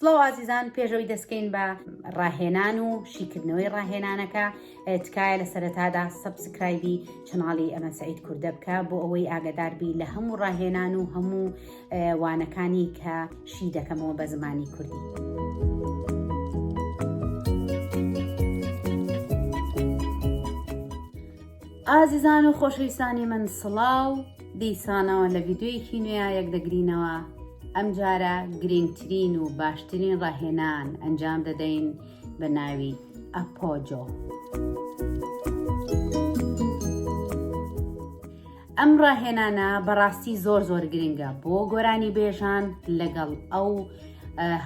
سڵاو ئازیزان پێشەوەی دەستکەین بە ڕاهێنان و شیکردنەوەی ڕاهێنانەکە تکایە لە سەرەتادا سبسکرایبی چناڵی ئەمە سعید کوردە بکە بۆ ئەوەی ئاگداربی لە هەموو ڕاهێنان و هەموو وانەکانی کە شی دەکەمەوە بە زمانی کوردی. ئازیزان و خۆشەویستانی من سڵاو دیسانەوە لە ڤیددیویەکی نوێیا یەک دەگرینەوە ئەمجارە گرنگترین و باشترین ڕاهێنان ئەنجام دەدەین بە ناوی ئەپۆجۆ. ئەم ڕاهێنانە بەڕاستی زۆر زۆر گرنگە بۆ گۆرانی بێژان لەگەڵ ئەو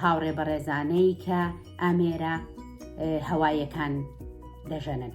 هاوڕێ بەڕێزانەی کە ئامێرە هەوایەکان دەژەنن.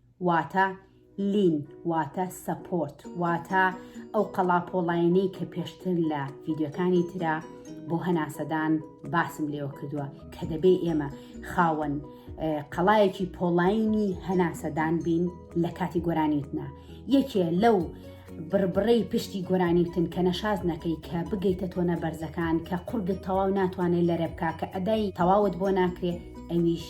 واتە، لین، واتە، سەپۆرت، واتە، ئەو قەڵاپۆڵاینەی کە پێشتر لە ڤیدیۆکانی ترا بۆ هەناسەدان باسم لێوە کردووە کە دەبێ ئێمە خاوەن قەڵایەکی پۆڵاینی هەناسەدان بین لە کاتی گۆرانیوتنا یەکێ لەو بڕبڕەی پشتی گۆرانیوتن کە نەشاز نەکەی کە بگەیتە تۆنە بەرزەکان کە قورگت تەواو ناتوانێت لەرە بک کە ئەدای تەواوت بۆ ناکرێ ئەویش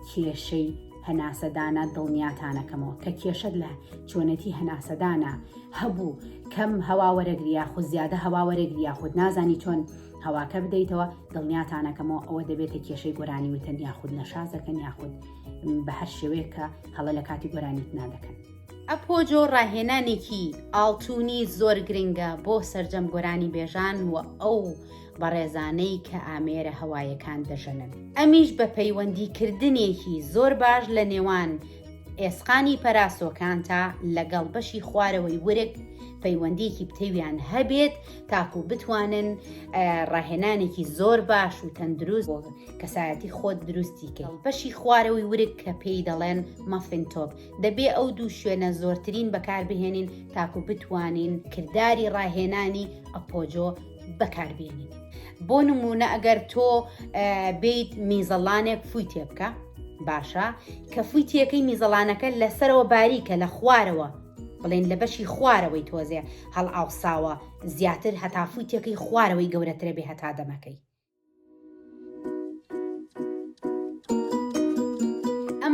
کێشەی هەناسەدانە دڵنیاتانەکەمەوە کە کێشەت لە چۆنێتی هەناسەدانە هەبوو کەم هەوا وەرەگریا خود زیادە هەوا وەرەگریا خود نازانی چۆن هەواکە بدەیتەوە دڵنیاتانەکەمەوە ئەوە دەبێتە کێشەی گۆرانی وتەن یاخود نەشازەکەن یاخود بە هەر شێوەیە کە هەڵە لە کاتی گۆرانیت نادەکەن. ئەپۆجۆ ڕاهێنانێکی ئاڵتونی زۆر گرنگە بۆ سەرجەم گۆرانی بێژان و ئەو بەڕێزانەی کە ئامێرە هەوایەکان دەژەنن، ئەمیش بە پەیوەندیکردنێکی زۆر باش لە نێوان ئێسقانی پەراسۆکانتا لەگەڵ بەشی خوارەوەی ورگ پەیوەندیەکی پتەویان هەبێت تاکو بتوانن ڕاهێنانێکی زۆر باش و تەندروست بۆ کەسایەتی خۆت دروستی کە بەشی خوارەوەی ورگ کە پێی دەڵێن مەفین تۆپ دەبێ ئەو دوو شوێنە زۆرترین بەکاربهێنین تاکو بتوانین کردداری ڕاهێنانی ئەپۆجۆ بەکاربیێنیت بۆ نمونە ئەگەر تۆ بیت میزەڵانێک فوی تێ بکە باشە کە فوی تێەکەی میزەڵانەکە لەسەرەوە باریکە لە خوارەوە بڵێن لە بەشی خوارەوەی تۆزێ هەڵ ئاوساوە زیاتر هەتافوی تێەکەی خوارەوەی گەورەترە بێ هەتا دەمەکەی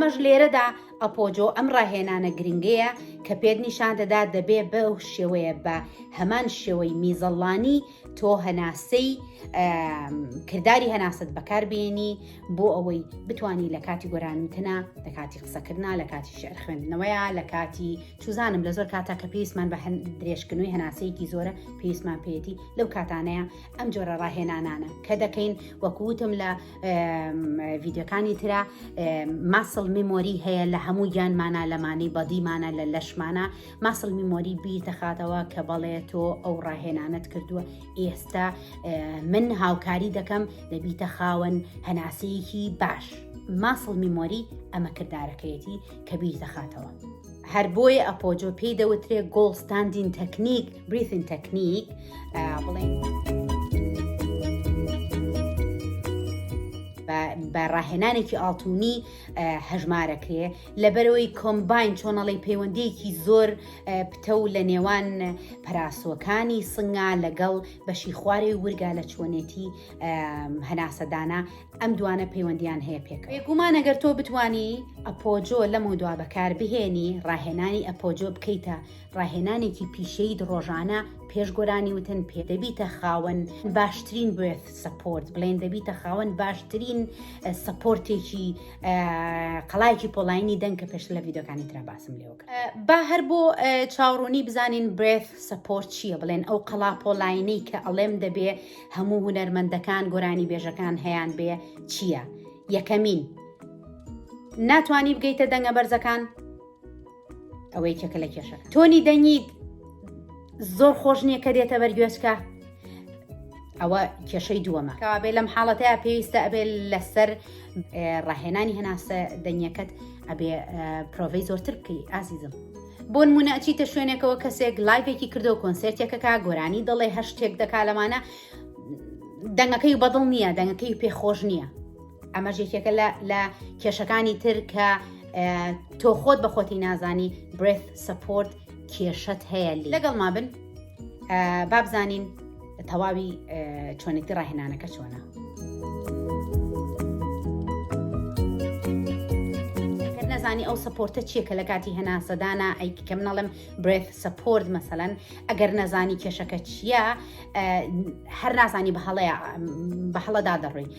ئەمەش لێرەدا ئەپۆجۆ ئەم ڕاهێنانە گرنگەیە کە پێت نیشان دەدا دەبێ بە و شێوەیە بە هەمان شێوەی میزەڵانی تۆ هەناسەی کردداری هەناست بەکاربیێنی بۆ ئەوەی بتانی لە کاتی گۆرانتنا لە کاتی قسەکردنا لە کاتی شعر خوێندنەوەیە لە کاتی چوزانم لە زۆر کاتا کە پێویستمان بە هەند درێژکردنوی هەناسەیەکی زۆرە پێویستمان پێێتی لەو کاتانەیە ئەم جۆرە ڕاهێنانانە کە دەکەین وەکووتم لە ڤیددیوەکانی تررا ماسل میمۆری هەیە لە هەموو گیانمانە لەمانی بەدیمانە لە لەشمانە ماسل میمۆری بیر دەخاتەوە کە بەڵێ تۆ ئەو ڕاهێنانت کردووە ئێستا من هاوکاری دەکەم دەبیتە خاوەن هەناسەیەکی باش ماسل میمۆری ئەمە کردارەکەیەتی کە بیر دەخاتەوە. هەر بۆیە ئەپۆجۆ پێی دەوترێ گۆڵستاندین تەکنیک بریثن تەکنیک بڵێن بە ڕاهێنانێکی ئاڵتونی هەژمارەکرێ لەبەرەوەی کۆمبین چۆنەڵی پەیوەندیەکی زۆر پتە و لە نێوان پەراسوەکانی سنگا لەگەڵ بەشی خوارێ ورگا لە چۆنێتی هەناسەدانا ئەم دوانە پەیوەندیان هەیە پێک بێگومان ئەگەر تۆ بتانی ئەپۆجۆ لەم و دوا بەکار بهێنی ڕاهێنانی ئەپۆجۆ بکەیتە ڕاهێنانێکی پیشەیت ڕۆژانە پێش گۆرانی وتن پێ دەبیتە خاوەن باشترین بێت سپۆرت بڵێن دەبیتە خاوەن باشترین سپۆرتێکی قەڵایکی پۆلاینی دەنگ کە پێش لە یددیوەکانی تررا باسم لێوە با هەر بۆ چاوڕوونی بزانین برێت سپۆرت چییە بڵێن ئەو قەڵا پۆلاینەی کە ئەڵێم دەبێ هەموو هوەرمەندەکان گۆرانی بێژەکان هەیان بێ چییە یەکەمین ناتانی بگەیتە دەنگە بەرزەکان ئەوە یەکێکە لە کێشە تۆنی دەنگیت زۆر خۆش نییە کە دێتە بەرگوێچکە ئەوە کێشەی دووەمە کەوابێ لەم حاڵەتەیە پێویستە ئەبێ لەسەر ڕاهێنانی هەناسە دەنگەکەت ئەبێ پرۆڤی زۆرتر بکەی ئازیزم بۆ نمونە ئەچیتە شوێنێکەوە کەسێک لایڤێکی کردو کۆنسرتێکەکە گۆرانی دەڵێ هەشتێک دەکا لەمانە دەنگەکەی بەدڵ نییە دەنگەکەی پێخۆش نییە ئەمەش یەکێکە لە کێشەکانی تر کە تۆ خۆت بە خۆتی نازانی برێت سپۆرت کێشت هەیە لەگەڵ ما بن بابزانین تەواوی چۆنێتی ڕاهێنانەکە چۆنە نەزانی ئەو سپۆرتە چیە کە لە کاتی هەناسەدانا ئەیک کە منەڵم برێت سپۆرت مەسەەن ئەگەر نەزانی کێشەکە چییە هەر نازانی بە هەڵەیە بە هەڵەدا دەڕووی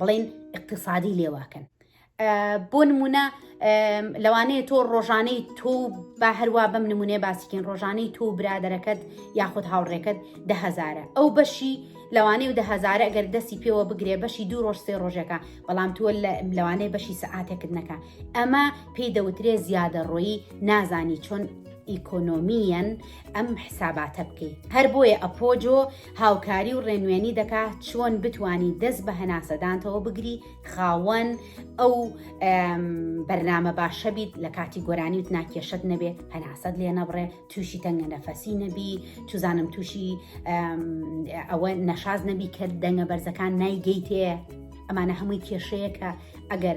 بڵێن اقتصادی لێواکەن بۆ نمونە لەوانەیە تۆ ڕۆژانەی تۆ با هەروە بەم نمونێ باسیکن ڕۆژانەی تۆ برادەرەکەت یاخود هاوڕێکەت دههزارە ئەو بەشی لەوانەیە و دههزارە ئەگەر دەستی پێوە بگرێ بەشی دوو ڕۆژ سێ ڕۆژەکە بەڵام تۆ لەوانەیە بەشی سەعاتێکت نەکە ئەمە پێی دەوترێ زیادە ڕۆیی نازانی چۆن ئیکۆنۆمیەن ئەم حساباتە بکەیت هەر بۆیە ئەپۆجۆ هاوکاری و ڕێنوێنی دەکا چۆن بتانی دەست بە هەناسەدانتەوە بگری خاوەن ئەو بەرنامە باشە بیت لە کاتی گۆرانی و ناکێشت نەبێت هەناسەت لێ نەبڕێ تووشی تەنگە نەفەسی نەبی توزانم تووشی ئەوە نەشاز نەبی کە دەنگە بەرزەکان نایگەیتێ ئەمانە هەمووی کێشەیە کە ئەگەر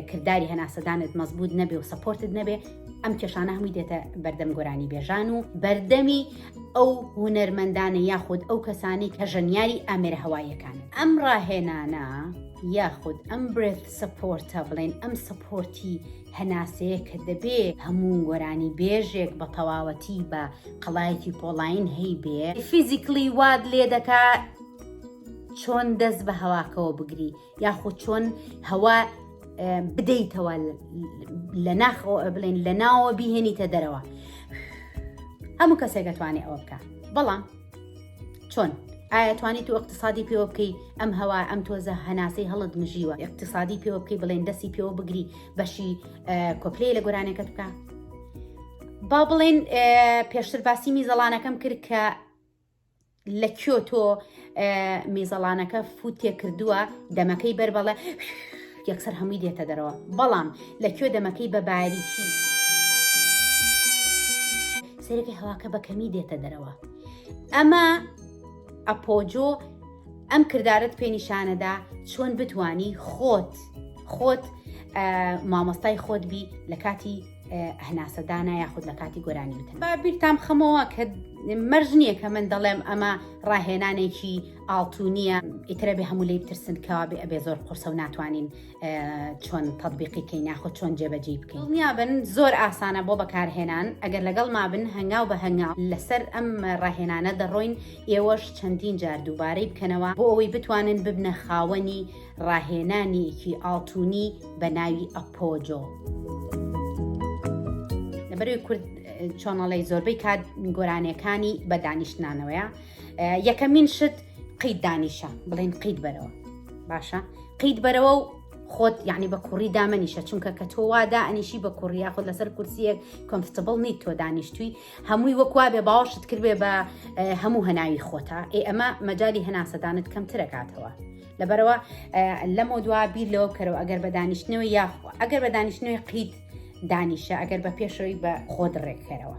کردداری هەناسەدانت مەزبوط نەبێ و سەپۆرتت نەبێ ئەم کێشانە هەمووی دێتە بەردەم گۆرانی بێژان و بەردەمی ئەو هوەرمەندانە یاخود ئەو کەسانی کە ژەنیاری ئامێرە هەواییەکان ئەم ڕاهێنانە یاخود ئەم برێت سەپۆرتە بڵێن ئەم سەپۆرتی هەناسەیە کە دەبێ هەموو گۆرانی بێژێک بە تەواوەتی بە قەڵایەتی پۆڵین هەی بێ فیزیکلی واد لێ دەکات چۆن دەست بە هەواکەوە بگری یاخود چۆن هەوا بدەیتەوە لە ناخەوە بڵێن لە ناوە بیهێنیتە دەرەوە هەموو کەسێک دەتوانێت ئەوە بکە بەڵام چۆن ئایا توانیت و اقتصادی پێوە بکەی ئەم هەوا ئەم تۆزە هەناسەی هەڵت مژیوە اقتصادی پێوە بکەی بڵێن دەستی پێوە بگری بەشی کۆپلەیە لە گۆرانەکەت بکە با بڵێن پێشتر باسی میزەڵانەکەم کرد کە لە کۆ تۆ میزەڵانەکە فوت تێکردووە دەمەکەی بەر بەڵێ یەکسەر هەمووی دێتە دەرەوە بەڵام لە کۆ دەمەکەی بە باریکی سەرەکە هەواکە بە کەمی دێتە دەرەوە ئەمە ئەپۆجۆ ئەم کردارت پێ نیشانەدا چۆن بتانی خۆت خۆت مامۆستای خۆت بی لە کاتی هەناسەدانە یاخود لە کاتی گۆرانی وتن با بیرتام خەمەوە کە مەرج نییە کە من دەڵێم ئەمە ڕاهێنانێکی ئاڵتونیە ئیترە بێ هەموو لی بترسن کەوا بێ ئەبێ زۆر قرسە و ناتوانین چۆن تەبیقی کەی ناخۆ چۆن جێبەجی بکەین نیابن زۆر ئاسانە بۆ بەکارهێنان ئەگەر لەگەڵ مابن هەنگاو بە هەنگاو لەسەر ئەم ڕاهێنانە دەڕۆین ئێوەش چەندین جار دووبارەی بکەنەوە بۆ ئەوەی بتوانن ببنە خاوەنی ڕاهێنانیەکی ئاڵتونی بە ناوی ئەپۆجۆ. لەبەروی کورد چۆنەڵی زۆربەی کات گۆرانیەکانی بە دانیشتنانەوەیە یەکەمین شت قیت دانیشە بڵێن قیت بەرەوە باشە قیت بەرەوە و خۆت یعنی بە کوڕی دامەنیشە چونکە کە تۆ وادا ئەنیشی بە کوڕیا خۆ لەسەر کورسیەک کۆمفتبڵ نیت تۆ دانیشتوی هەمووی وەکوا بێ باوەشت کردێ بە هەموو هەناوی خۆتا ئێ ئەمە مەجای هەناسەدانت کەمترەکاتەوە لەبەرەوە لەمە دوا بیر لەوە بکەرەوە ئەگەر بە دانیشتنەوە یاخۆ ئەگەر بە دانیشتنەوەی قیت دانیشە ئەگەر بە پێشەوەی بە خۆ دڕێکەرەوە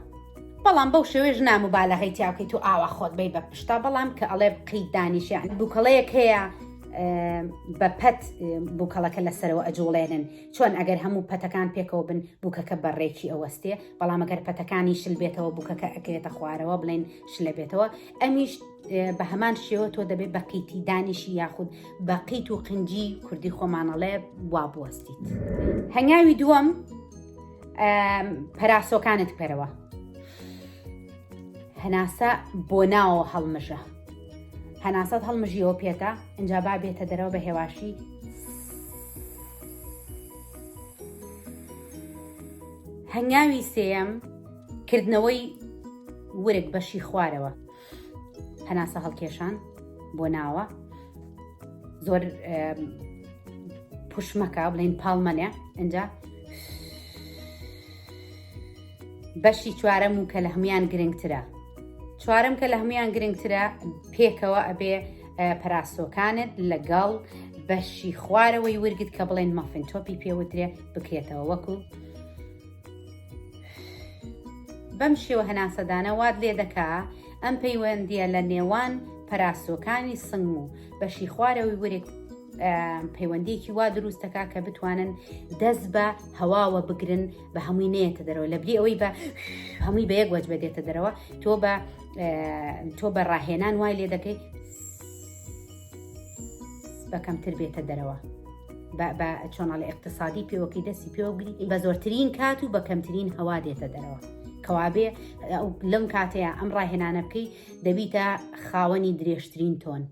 بەڵام بەو شێوێژ ناموبالەغی تیاکەی تو ئاوا خۆت بی بە پشتا بەڵام کە ئەڵێ قیت دانیشە بووکەڵەیەک هەیە بە پەت بووکەڵەکە لەسەرەوە ئەجوڵێنن چۆن ئەگەر هەموو پەتەکان پێکەوە بن بووکەکە بەڕێکی ئەوەستێ بەڵام ئەگەر پەتەکانی شل بێتەوە بووکەکە ئەکرێتە خوارەوە بڵێن شلە بێتەوە ئەمیش بە هەمان شێوە تۆ دەبێت بە قیتی دانیشی یاخود بە قیت و قنجی کوردی خۆمانەڵێ وا بوەستیت هەنگاوی دووەم پەراسۆکانت بکەرەوە هەناسە بۆ ناوە هەڵمژە هەناسەت هەڵمژیەوە پێێتە ئەجا با بێتە دەرەوە بە هێواشی هەنگاوی سێەم کردنەوەی ورک بەشی خوارەوە هەناسە هەڵکێشان بۆ ناوە زۆر پوشمەکە بڵین پاڵمەنێ ئەجا بەشی چوارەم و کە لە هەمویان گرنگترە چوارم کە لە هەمویان گرنگترە پێکەوە ئەبێ پەراسۆکانت لەگەڵ بەشی خوارەوەی ورگت کە بڵێن مافین تۆپی پێوترێ بکرێتەوە وەکو بەم شێوە هەناسەدانە وات لێ دەکا ئەم پەیوەندیە لە نێوان پەراسۆکانی سنگ و بەشی خوارەوەی ورێک پەیوەندیەکی وا دروستەکە کە بتوانن دەست بە هەواوە بگرن بە هەمووی نێتە دەرەوە لە بری ئەوەی بە هەمووی بە یەک وەج بەدێتە دەرەوە تۆ بە تۆ بە ڕاهێنان وای لێ دەکەی بە کەمتر بێتە دەرەوە بە چۆناڵی اقتصادی پێوەکی دەستی پێوەگری بە زۆرترین کات و بە کەمترین هەوا دێتە دەرەوە کەوابێ لەم کاتەیە ئەم ڕاهێنانە بکەی دەبیتە خاوەنی درێژترین تۆن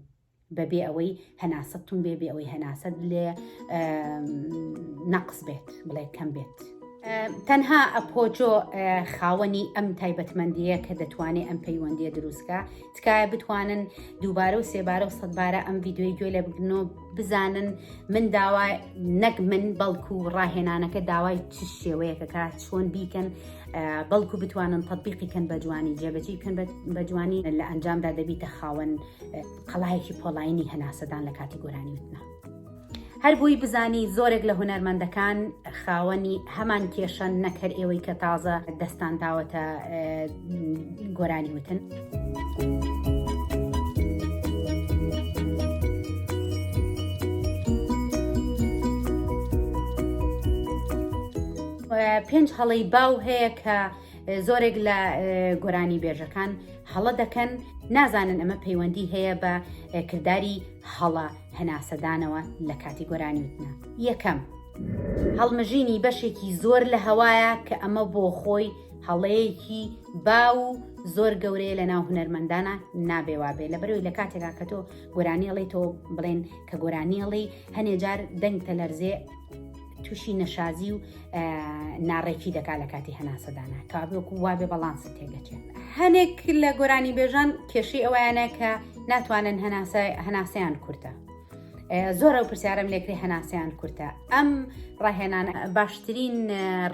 بەبێ ئەوەی هەناسەتون بێ بێ ئەوەی هەناسەت لێ نەقس بێت بڵێ کەم بێت. تەنها ئەپۆجۆ خاوەنی ئەم تایبەتمەندیە کە دەتوانێت ئەم پەیوەندیە دروستکە تکایە بتوانن دووبارە و سێبارە و سەدبارە ئەم ڤیددیوی گوێ لە بگرن و بزانن من داوا نەک من بەڵکو و ڕاهێنانەکە داوای چ شێوەیەکەکە چۆن بیکەن بەڵکو بتوانن تطببیقی کەن بە جوانی جێبەجی کەن بە جوانی لە ئەنجامدا دەبیتە خاوەن قەڵایەکی پۆلاینی هەناسەدان لە کاتی گۆرانی وتنا. هەر بووی بزانی زۆرێک لە هونەرمەندەکان خاوەنی هەمان کێشەن نەک هەر ئێوەی کە تازە دەستان داوەتە گۆرانی وتن. پێنج هەڵی باو هەیە کە زۆرێک لە گۆرانی بێژەکان هەڵە دەکەن نازانن ئەمە پەیوەندی هەیە بە کردداری هەڵە هەناسەدانەوە لە کاتی گۆرانیوتنا یەکەم. هەڵمژینی بەشێکی زۆر لە هەوایە کە ئەمە بۆ خۆی هەڵەیەکی باو و زۆر گەورەیە لە ناو هونەرمەندانە نابێ وابێ لە بەرەوەی لە کاتێکا کە تۆ گۆرانیڵی تۆ بڵێن کە گۆرانیڵی هەنێجار دەنگ تەلەرزێ تووشی نەشازی و ناڕێکی دەکا لە کاتی هەناسەدانە کابێک و وابێ بەڵانسە تێگەچێت هەنێک لە گۆرانی بێژان کێشی ئەویانە کە ناتوانن هەناسەیان کورتە زۆرە و پرسیارم لێکری هەناسیان کورتە ئەم ڕاهێنان باشترین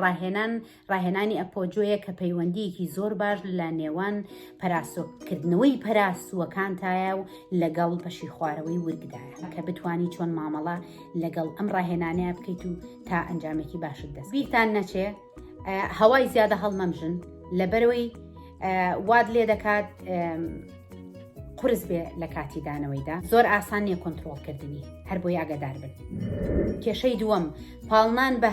ڕاهێنان ڕاهێنانی ئەپۆ جۆیە کە پەیوەندیەکی زۆر باش لە نێوان پەراسۆکردنەوەی پەراسووەکانتایە و لەگەڵ پەشی خوارەوەی ورگدایە کە بتانی چۆن مامەڵە لەگەڵ ئەم ڕاهێنانەیە بکەیت و تا ئەنجامێکی باشت دەست بیرتان نەچێ هەوای زیادە هەڵمەمژن لەبەرەوەی واد لێ دەکات قرس بێ لە کاتی دانەوەیدا زۆر ئاسان نیە کۆنتترۆڵ کردنی هەر بۆی ئاگادار بن کێشەی دووەم پاڵنان بە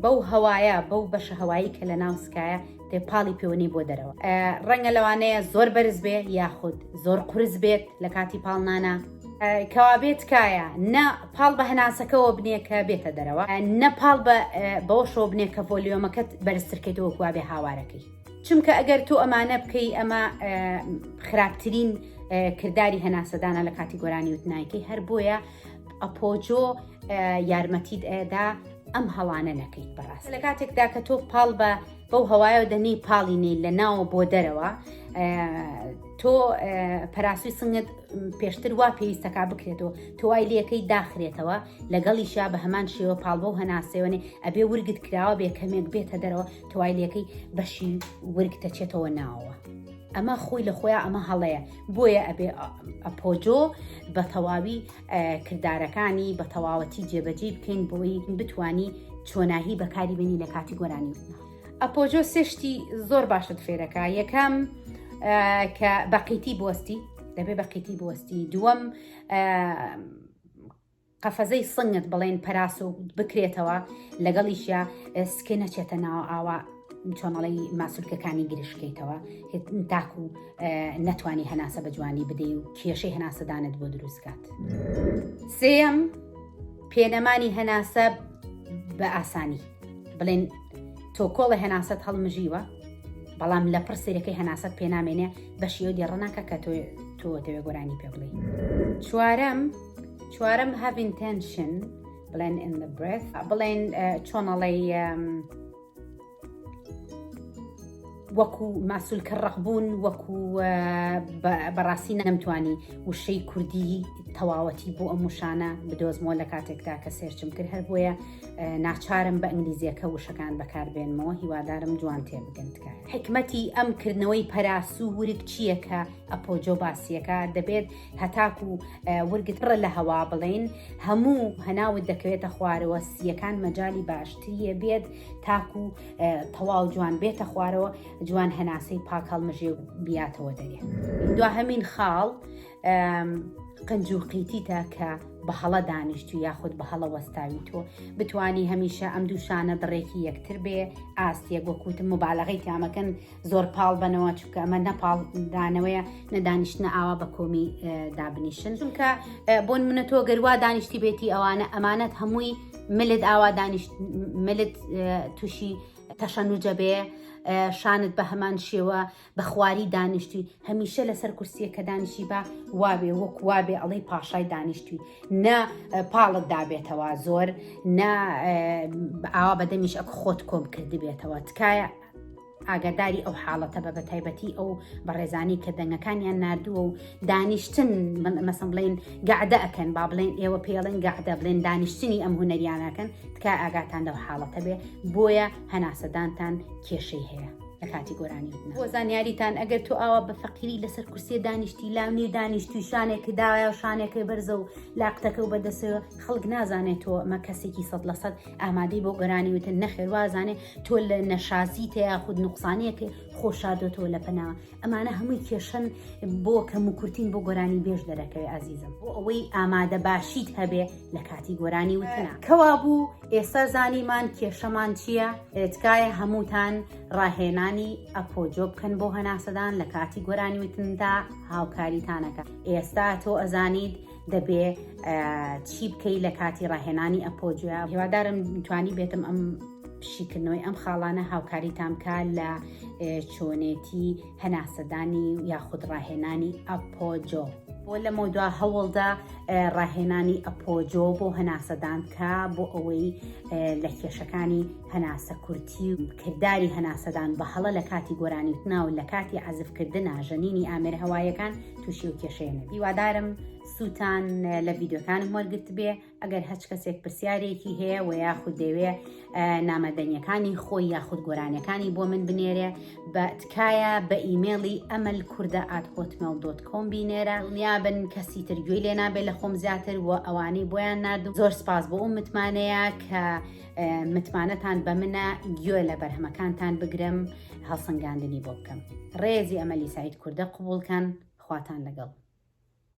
بەو هەوایە بەو بەشە هەوایی کە لە ناو سکایە تێ پاڵی پێوەنی بۆ دەرەوە ڕەنگە لەوانەیە زۆر بەرز بێ یاخود زۆر قرس بێت لە کاتی پاڵنانە کەوابێت تکایە نە پاڵ بە هەناسەکەەوە بنێ کە بێتە دەرەوە نە پاڵ بەوەشەوە بنێ کە ڤۆلیۆمەکەت بەرزترکەیتەوە کوابێ هاوارەکەی چونکە ئەگەر تۆ ئەمانە بکەی ئەمە خراپترین کردداری هەناسەدانە لە کاتی گۆرانی وتنایکەی هەر بۆیە ئەپۆجۆ یارمەتیت ئەدا ئەم هەڵانە نەکەیت بەڕاست لە کاتێکدا کە تۆ پاڵ بە بەو هەوایەوە دەنی پاڵی نەی لە ناوە بۆ دەرەوە تۆ پەراسوی سنگت پێشتر وا پێویستەکە بکرێتەوە تۆوای لەکەی داخرێتەوە لەگەڵیشیا بە هەمان شێوە پاڵبە و هەناسێوەێ ئەبێ ورگت کراوە بێ کەمێک بێتە دەرەوە توایلەکەی بەشی ورگ دەچێتەوە ناوە ئەمە خۆی لە خۆیان ئەمە هەڵەیە بۆیە ئەبێ ئەپۆجۆ بە تەواوی کردارەکانی بە تەواوەتی جێبەجی بکەین بۆی بتانی چۆناهی بەکاری بینی لە کاتی گۆرانی ئەپۆجۆ سێشتی زۆر باشت فێرەکە یەکەم کە بەقیتی بۆستی دەبێ بەقیتی بۆستی دووەم قەفەزەی سنگت بڵێن پەراس و بکرێتەوە لەگەڵیشە سکێ نەچێتە ناوە ئاوا چۆنەڵی ماسولکەکانی گرشکەیتەوە تاکو نەتوانی هەناسە بە جوانی بدەی و کێشەی هەناسەدانت بۆ دروستکات سێم پێنەمانی هەناسە بە ئاسانی بڵێن تۆکۆڵە هەناسەت هەڵمژیوە بەڵام لە پڕ سێرەکەی هەناسەت پێنامێنێ بەشیەوە دێڕناکە کە تۆ تۆ دەوێ گۆرانی پێ بڵێ چوارەم چوارەم have intention بڵێن in the breath بڵێن چۆنەڵی وەکو ماسولکە ڕقبوون وەکو بەڕاستی نەمتوانی وشەی کوردی تەواوەتی بۆ ئەم وشانە بدۆزمەوە لە کاتێکدا کە سێرچم کرد هەر بۆیە ناچارم بە ئینگلیزیەکە وشەکان بەکاربێنمەوە هیوادارم جوان تێ بگەن تکە حکمەتی ئەم کردنەوەی پەراسو ورک چییە کە ئەپۆجۆ باسیەکە دەبێت هەتاکو ورگت پڕە لە هەوا بڵێین هەموو هەناوت دەکەوێتە خوارەوە سییەکان مەجای باشتریە بێت تاکو تەواو جوان بێتە خوارەوە جوان هەناسەی پاک هەڵمژێ و بیاتەوە دەێ دو هەمین خاڵ قنج و قیتیتە کە بە هەڵە دانیشتو یاخود بە هەڵە وەستاوی تۆ بتانی هەمیشە ئەم دووشانە دڕێکی یەکتر بێ ئاستیە گۆکوتم مبالغی تامەکەن زۆر پاڵ بنەوە چونکە ئەمە نەپاڵ دانەوەیە نەدانیشتە ئاوا بە کۆمی دابنیشن چونکە بۆن منە تۆ گەروا دانیشتی بێتی ئەوانە ئەمانەت هەمووی ملت ئاوا دانیشت ملت تووشی تەشەنوجە بێ شانت بە هەمان شێوە بە خواری دانیشتوی هەمیشە لەسەر کورسیە کە دانیشی بە وابێ وەک وابێ ئەڵەی پاشای دانیشتوی نە پاڵت دابێتەوە زۆر نە ئاوا بەدەمیش ئەک خۆت کۆم کردبێتەوە تکایە ئاگاداری ئەو حاڵەتە بە بەتایبەتی ئەو بەڕێزانانی کە دەنگەکانیان نردووە و دانیشتن مەسم بڵێن گەعدە ئەکەن با بڵێن ئێوە پێڵێن گەعدە بڵێن دانیشتنی ئەم هوەریانەکەن تکا ئاگاتان لەو حاڵەتە بێ بۆیە هەناسەدانتان کێشەی هەیە. لە کاتی گۆرانی بۆ زانیاریتان ئەگەر تو ئاوا بە فەقیری لەسەر کورسێ دانیشتی لاو نێ دانیشتی شانێکی دایا و شانێکی بەرزە و لاقتەکە و بەدەسەوە خەڵک نازانێت تۆ مە کەسێکی سەد لە سەد ئامادەی بۆ گۆرانی وتن نەخێر وازانێ تۆ لە نەشازی تە یاخود نوقسانیەک خۆشادۆتەوە لە پەناوە ئەمانە هەمووی کێشن بۆ کەم و کورتین بۆ گۆرانی بێژ دەرەکەی ئازیزم بۆ ئەوەی ئامادە باشیت هەبێ لە کاتی گۆرانی وتنا کەوا بوو ئێستا زانیمان کێشەمان چییە تکایە هەمووتان ڕاهێنانی ئەپۆجۆ بکەن بۆ هەناسەدان لە کاتی گۆرانی وتندا هاوکاریتانەکە ئێستا تۆ ئەزانیت دەبێ چی بکەی لە کاتی ڕاهێنانی ئەپۆ جویا هیوادارم توانی بێتم ئەم شیکردنەوەی ئەم خاڵانە هاوکاریتان بکە لە چۆنێتی هەناسەدانی یاخود ڕاهێنانی ئەپۆجۆ. بۆ لەمە دوا هەوڵدا ڕاهێنانی ئەپۆجۆ بۆ هەناسەدان بکە بۆ ئەوەی لە کێشەکانی هەناسە کورتی و کردداری هەناسەدان بە هەڵە لە کاتی گۆرانیوتناو لە کاتی عزفکردە ژەنینی ئامێر هەوایەکان تووشی و کێشەیە نەبی وادارم سووتان لە ڤیددیوکانم وەرگرت بێ ئەگەر هەچ کەسێک پرسیارێکی هەیە و یاخود دەوێ نامەدەنیەکانی خۆی یاخود گۆرانەکانی بۆ من بنێرێ بە تکایە بە ئیممەڵی ئەمەل کووردە ئاتهۆتمەل دۆت کۆم بینێرە نیابن کەسی ترگوێی لێ نابێت لە خۆم زیاتر و ئەوانەی بۆیان نردوو زۆر سپاس بۆ ئەو متمانەیە کە متمانەتان بە منە گوێ لە بەرهەمەکانتان بگرم هەڵسەنگاندنی بۆ بکەم ڕێزی ئەمەلی سعید کوردە قوبولکەن خواتان لەگەڵ